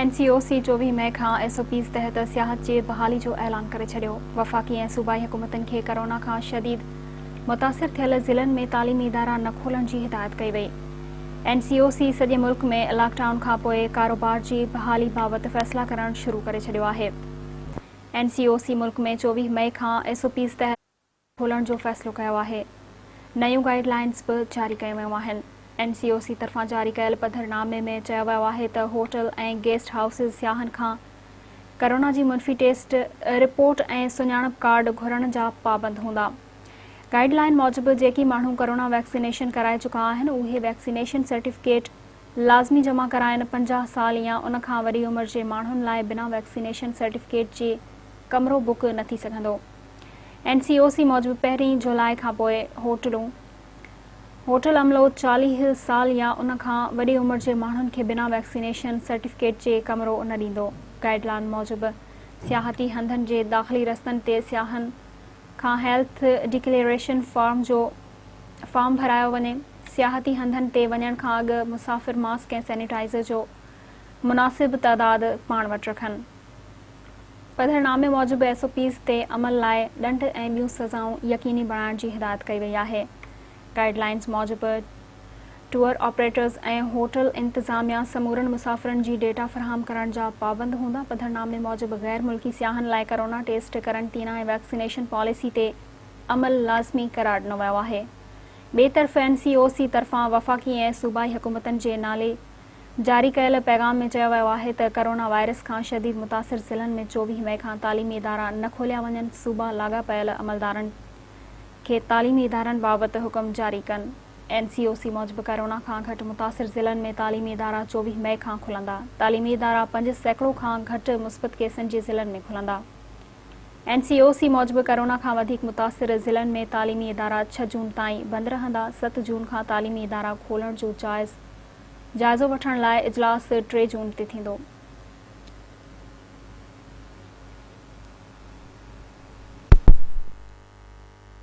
N C O C چوويهه مئي کان ايس او پيز تحت سياحت جي بحالي جو اعلان ڪري ڇڏيو، وفاقي ۽ صوبائي حڪومتن کي ڪرونا کان شديد متاثر ٿيل ضلعن ۾ تعليمي ادارا نه کولڻ جي هدايت ڪئي وئي. اين سي او سي سڄي ملڪ ۾ لاڪ ڊائون کانپوء ڪاروبار جي بحالي بابت فيصلا ڪرڻ شروع ڪري ڇڏيو آهي. اين سي او سي ملڪ ۾ چوويهه مئي کان ايس او پيز تحت. کولڻ جو فيصلو ڪيو آهي نيون گائيڊ لائينز به جاري ڪيون ويون آهن اين سي او سي طرفان جاري ڪيل پڌر نامي ۾ چيو ويو آهي ته هوٽل ۽ گيسٽ هائوسز سياحن کان ڪرونا جي منفي ٽيسٽ رپورٽ ۽ سڃاڻپ ڪارڊ گهرڻ جا پابند هوندا گائيڊ لائين موجب جيڪي ماڻهو ڪرونا ويڪسينيشن ڪرائي چڪا آهن اهي ويڪسينيشن سرٽيفڪيٽ لازمي جمع ڪرائن پنجاهه سال يا ان کان وري عمر جي ماڻهن لاء بنا ويڪسينيشن سرٽيفڪيٽ جي ڪمرو بڪ نه ٿي سگهندو. اين سي او سي موجب پهرين جولاء کانپوء هوٽلون هوٽل عملو چاليهه سال يا ان کان وڏي عمر جي ماڻهن کي بنا ويڪسينيشن سرٽيفڪيٽ جي ڪمرو نه ڏيندو گائيڊلائن موجب سياحتي هنڌن جي داخلي رستن تي سياحن کان هيلٿ ڊڪليئريشن فارم جو فارم ڀرايو وڃي سياحتي هنڌن تي وڃڻ کان اڳ مسافر ماسڪ ۽ سينيٽائزر جو مناسب تعداد پاڻ وٽ رکن پڌرنامي موجب ايس او پيز تي عمل لاء ڏنڊ ۽ ٻيون سزائون يقيني بڻائڻ جي هدايت ڪئي وئي آهي. گائيڊ لائينز موجب ٽوئر آپريٽرز ۽ هوٽل انتظاميا سمورن مسافرن جي ڊيٽا فراهم ڪرڻ جا پابند هوندا. پڌرنامي موجب غير ملڪي سياحن لاء ڪرونا ٽيسٽ، قرنطينه ۽ ويڪسينيشن پاليسي تي عمل لازمي قرار ڏنو ويو آهي. ٻئي طرف اين سي او سي طرفان وفاقي ۽ صوبائي حڪومتن جي نالي جاري ڪيل پيغام ۾ چيو ويو آهي ته ڪرونا وائرس کان شديد متاثر ضلعن ۾ چوويهه مئي کان تعليمي ادارا نه کوليا وڃن، صوبا لاڳاپيل عملدارن کي تعليمي ادارن بابت حڪم جاري ڪن، اين سي او سي موجب ڪرونا کان گهٽ متاثر ضلعن ۾ تعليمي ادارا چوويهه مئي کان کلندا، تعليمي ادارا پنج سيڪڙو کان گهٽ مثبت ڪيسن جي ضلعن ۾ کلندا، اين سي او سي موجب ڪرونا کان وڌيڪ متاثر ضلعن ۾ تعليمي ادارا ڇهه جون تائين بند رهندا، ست جون کان تعليمي ادارا کولڻ جو جائز. جائزو وٺڻ لاء اجلاس ٽي جون تي ٿيندو.